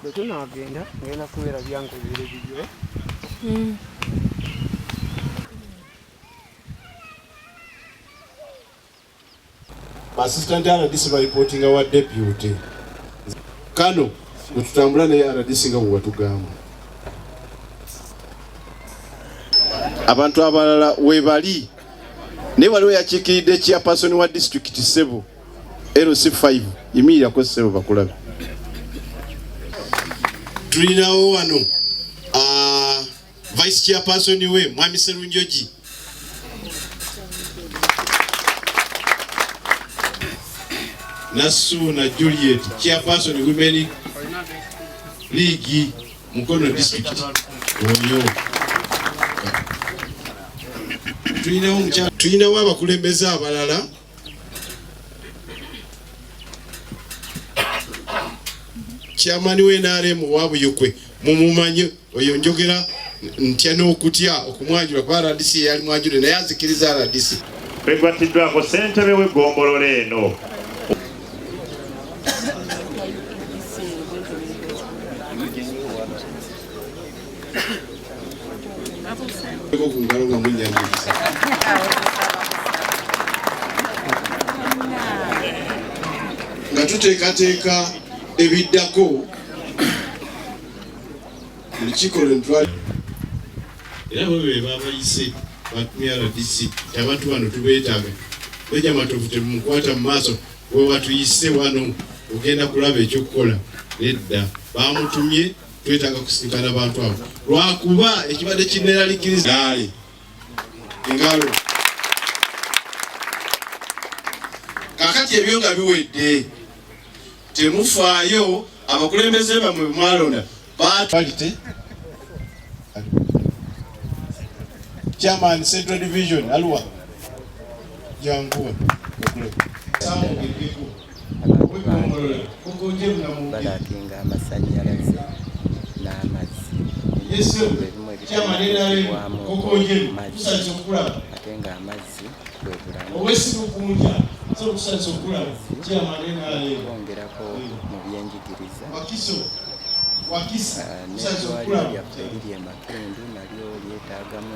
bwetunagenda ngenda kubeera byange ebire bibyo hmm. assistant rdc bareportinga wa deputy kano wetutambula naye rdc nga bwewatugamba abantu abalala webali naye waliwo yakiikiridde chairperson wa district sebo LC5 yimirira ko sebo bakulabe. Tulinawo wano uh, vice chairperson we Mwami Serunjoji. Nasu na Juliet chairperson women league Mukono district. Oyo. Tulinawo abakulembeze abalala chairman we NRM wa Buyukwe mumumanyi oyo njogera ntya n'okutya okumwanjula kuba RDC yali mwanjule naye azikiriza RDC. Begwattiddwako ssentebe w'eggombolola eno nga tuteekateeka ebiddako olukiiko lwentwal era bo be babayise batumya rdc abantu bano tubeetaaga beja matovu temukwata mu maaso wewatuyise wano ogenda kulaba ekyokukola nedda bamutumye twetaaga kusisinkana abantu abo lwakuba ekibadde kineraliikiriza gaali engalo kakati ebyo nga biwedde temufaayo abakulembeze bamwe bemwalonda batwalite chairman central division aluwa yanguwa abantu bange balakinga amasannyalaze n'amazzi ebimu ebitawamu mazzi ate ng'amazzi bwe bulamu bongerako mu byenjigiriza n'eddwaliro lyaffe eriri e makindu nalyo lyetaagamu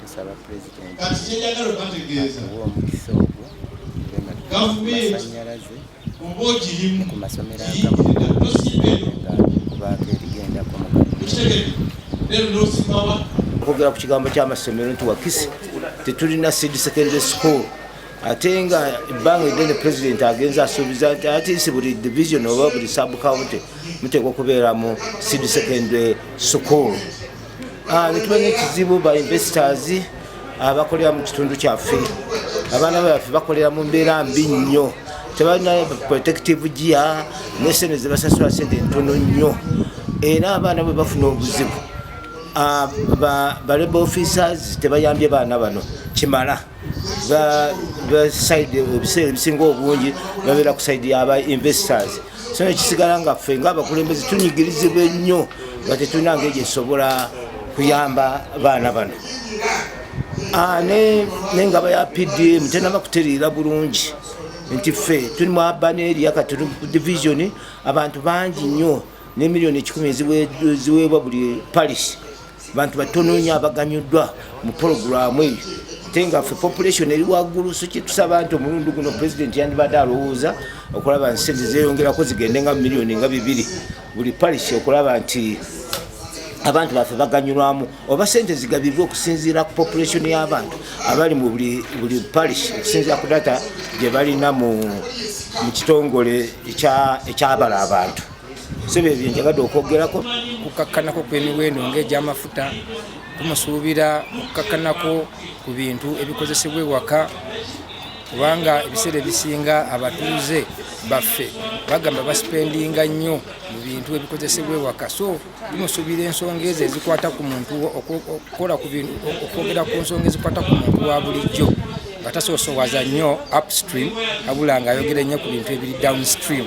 tusaba pulezidenti akuwa omukisa ogwo nga tumasanyalaze ku masomero agamu nga kubaako erigendako mu kwogera ku kigambo ky'amasomero nti wakisi tetulina seed secondary school ate nga ebbanga eddene pulezidenti agenza asuubiza nti atisi buli division oba buli subcounty muteekwa okubeera mu sid secondary school ah, netumanya ekizibu ba investors abakolera mu kitundu kyaffe abaana baffe bakolera mu mbeera mbi nnyo tebalina protective gia nesente zebasasula sente ntono nnyo era abaana bwe bafuna obuzibu ah, baleba officers tebayambye baana bano kimala ebiseera ebisinga obungi babeera ku saidi yaba investors so nekisigala nga ffe ngaabakulembeze tunyigirizibwa ennyo nga tetulina ngeri gyetusobola kuyamba baana bano ah, nengaba ya pdm tenaba kutereera bulungi nti ffe tuli mu abaneria kati division abantu bangi nnyo ne millioni ekikumi eziweebwa buli parish bantu batono nnyo abaganyuddwa mu pologulaamu eyo ate nga ffe population eri waggulu so kyetusaba nti omulundi guno pulezidenti yandibadde alowooza okulaba nti sente zeyongerako zigende nga miliyoni nga bibiri buli parish okulaba nti abantu baffe baganyulwamu oba sente zigabibwa okusinziira ku population y'abantu abali mu buli parish okusinziira ku data gye balina mu kitongole ekyabala abantu sebo ebyo njagadde okwogerako kukakkanako kw'emiwendo ng'egy'amafuta kumusuubira okukakkanako ku bintu ebikozesebwa ewaka kubanga ebiseera ebisinga abatuuze baffe bagamba basipendinga nnyo mu bintu ebikozesebwa ewaka so bimusuubira ensonga ezo ezikwata ku muntu okukola ku bintu okwogera ku nsonga ezikwata ku muntu wa bulijjo nga tasoosowaza nnyo upstream abula ngaayogera nnyo ku bintu ebiri downstream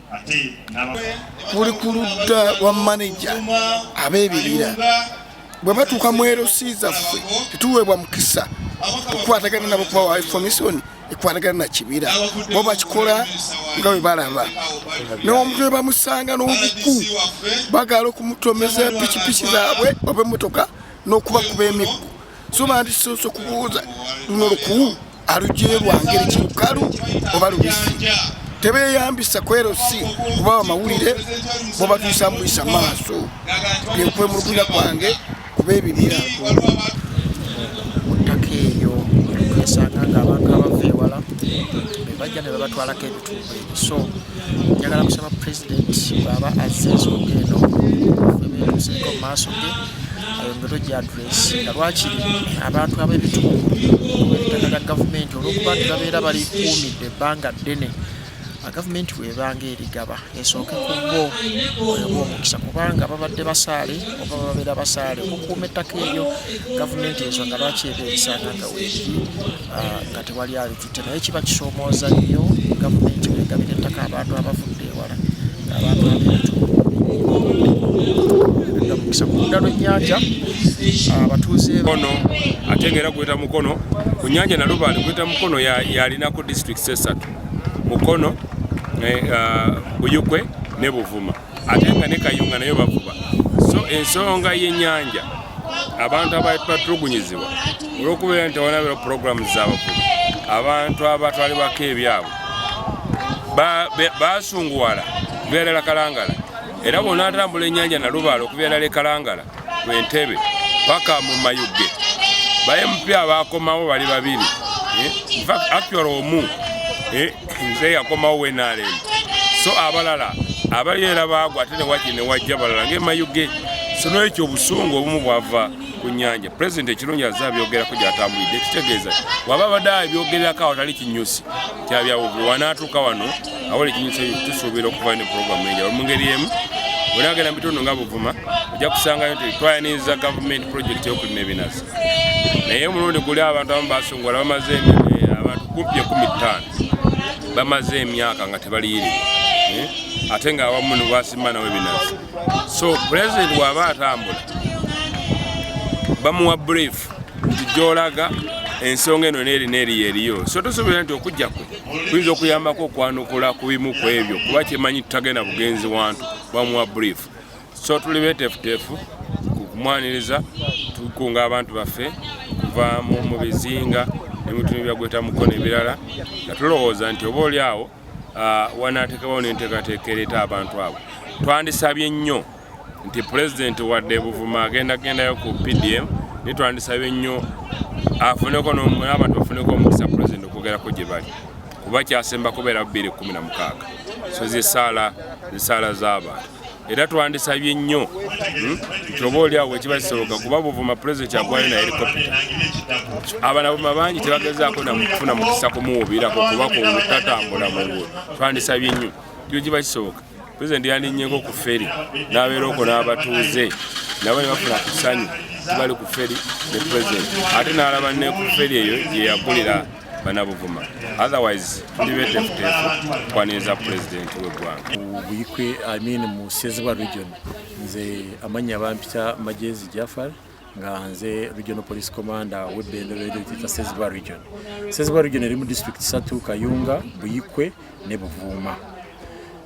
buli ku ludda lwa maneja ab'ebibira bwe batuuka mu lc zaffe tetuweebwa mukisa okukwatagana nabo kubawa information ekwatagana na kibira bo bakikola nga bwe balaba n'omuntu ne bamusanga n'obuku bagaala okumutomeza pikipiki zaabwe oba emmotoka n'okubakuba emiggo so bandisoose okubuuza luno lukuwu alugyeyo lwa ngeri ki lukalu oba lubisi tebeyambisa kwerosi kuba bamawulire bobatuisa muyisa maaso byekwemulugunya kwange kuba ebibira muttaka eyo esanga nga abantu abava ewala bebajja ne babatwalako ebitundu ebyo so njagala kusaba pulezidenti bwaba azza ensonga eno ebeetuuseko mu maaso ge ayongere ogyadula nga lwakiri abantu ab'ebitundu olw'ettaka lya gavumenti olw'okuba nti babeera balikuumidde ebbanga ddene gavumenti bwebanga erigaba esooke ku bo omukisa kubanga babadde basaale oba babeera basaale okukuuma ettaka eryo gavumenti ensonga lwaki ebeerisanga nga weeri ah, nga tewali ali naye kiba kisoomooza nnyo gavumenti negabira ettaka abantu abavudde ewala abantu abintu mukisa ku ludda lw'ennyanja abatuuze ono ate nga era gweta mukono ku nyanja nalubaale gweta mukono yalinako districts esatu mukono eh, ah, buyukwe ne buvuma ate nga ne kayunga nayo bavuba so ensonga y'ennyanja abantu abatulugunyizibwa olwokubeera nti tewanabeera puroguramu zabavubi abantu abatwalibwako ebyabwe basunguwala kubyalala kalangala era bona atambula enyanja nalubaala okubyalala ekalangala kwentebe paka mu mayuge bayemupya bakomawo bali babiri eh? actual omu eh? nze yakomawo wenalem so abalala abali era baagwa ate newaki newajja balala ngaemayuge so nolwekyo obusungu obumu bwava ku nyanja pulezidenti ekirungi aze abyogerako gyatambulidde ekitegeeza waba abadde abyogererako awo tali kinyusi kyabyawugulu wanaatuuka wano awola ekinyusi tusuubira okuvayo ne puroguramu enja mu ngeri emu bwenagenda mu bitundu nga buvuma ojja kusangayo nti twayaniriza gavumenti pulojekiti yokulima ebinazi naye omulundi guli abantu abamu basongola bamaze eh, abantu kumpi ekumi ttaano bamaze emyaka nga tebaliyirirwa eh, ate nga awamu nebwasimba nawe binazi so pulezidenti waba atambula bamuwa brief nti gyolaga ensonga eno nerina eriyo eriyo so tosobola nti okujja kwe kuyinza okuyambako okwanukula ku bimu ku ebyo kuba kyemanyi tutagenda bugenzi wantu bamuwa brief so tuli betefutefu kumwaniriza tukunga abantu baffe okuva mu bizinga ne mutundu byagweta mukono ebirala nga tulowooza nti oba oli awo ah, wanaatekawo n'enteekateeka ereeta abantu abo twandisabye nnyo nti pulezidenti wadde buvuma agenda gendayo ku pdm naye twandisabye nnyo afuneko n'abantu bafuneko omukisa pulezidenti okwogerako gye bali kuba kyasemba kubeera 216 so zesaala zesaala z'abantu era twandisabye nnyo hmm, nti oba oli awo ekiba kisoboka kuba buvuma pulezidenti agwayo na helikopita abanabuma bangi tebagezaako nakufuna mukisa kumuwubirako kuba kutatambula mu nguudo twandisabye nnyo kyo kiba kisoboka pulezidenti yandinyeko ku feri n'abeera oko n'abatuuze nabo ne bafuna ku ssanyu tibali ku feri ne pulezidenti ate n'alaba ne ku feri eyo gye yakulira banabuvuma otherwise tuli betefutefu kwaniriza pulezidenti w'eggwanga buyikwe amin mu sezibwa region nze amannya bampita majezi jafar nga nze regional police commander w'ebbendobeedo etita sezibwa region sezibwa region eri mu district satu kayunga buyikwe ne buvuuma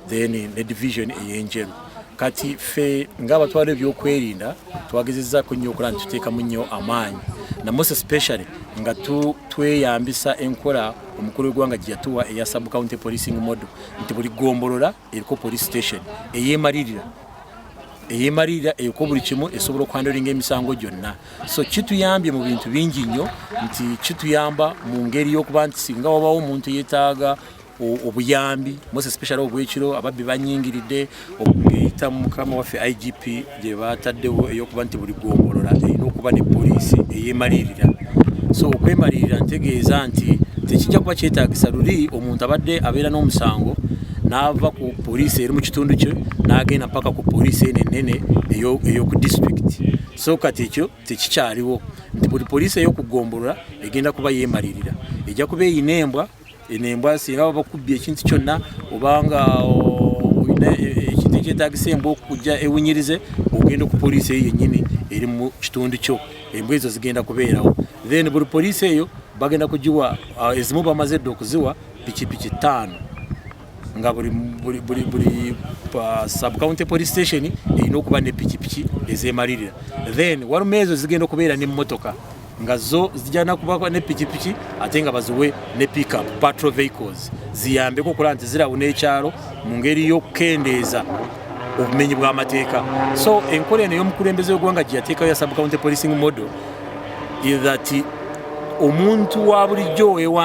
then ne division eyenjeru kati ffe ng'abatwala ebyokwerinda twagezezzaako nnyo okulaba nti tuteekamu nnyo amaanyi namose specially nga tweyambisa enkola omukulu w'eggwanga gye yatuwa eya subcounty policing model nti buli gombolola eriko police station eyeemalirira eyemalirira eko buli kimu esobola okwandolinga emisango gyonna so kituyambye mu bintu bingi nnyo nti kituyamba mu ngeri y'okuba nti singa wabawo omuntu yetaaga obuyambi most especially obwekiro ababbi banyingiridde okuyita mukama waffe igp gye bataddewo eyokuba nti buli gwombolola erina okuba ne poliisi eyemalirira so okwemalirira ntegeeza nti tekijja kuba kyetagisa luli omuntu abadde abeera n'omusango n'ava ku poliisi eri mu kitundu kyo n'agenda mpaka ku poliisi eno ennene ey'oku disitulikiti so kati ekyo tekikyaliwo nti buli poliisi ey'okugombolola egenda kuba yeemalirira ejja kuba eyina embwa eno embwa singa baba bakubbye ekintu kyonna obanga olina e, e, ekintu ekyetagisa embwa okujja ewunyirize ogenda ku poliisi eyo yennyini eri mu kitundu kyo embwa ezo zigenda kubeerawo then buli poliisi eyo bagenda kugiwa ezimu bamaze dda okuziwa pikipiki ttaano nga buli buli buli buli uh, sub county police station erina okuba ne pikipiki ezemalirira then waluma ezo zigenda okubeera ne motoka nga zo zijana kuba ne pikipiki ate nga baziwe ne pickup patrol vehicles ziyambeko okulaba nti zirawo n'ekyalo mu ngeri y'okukendeeza obumenyi bw'amateeka so enkola eno y'omukulembeze w'eggwanga gye yateekayo ya sub county policing model is that omuntu wa bulijjo ewa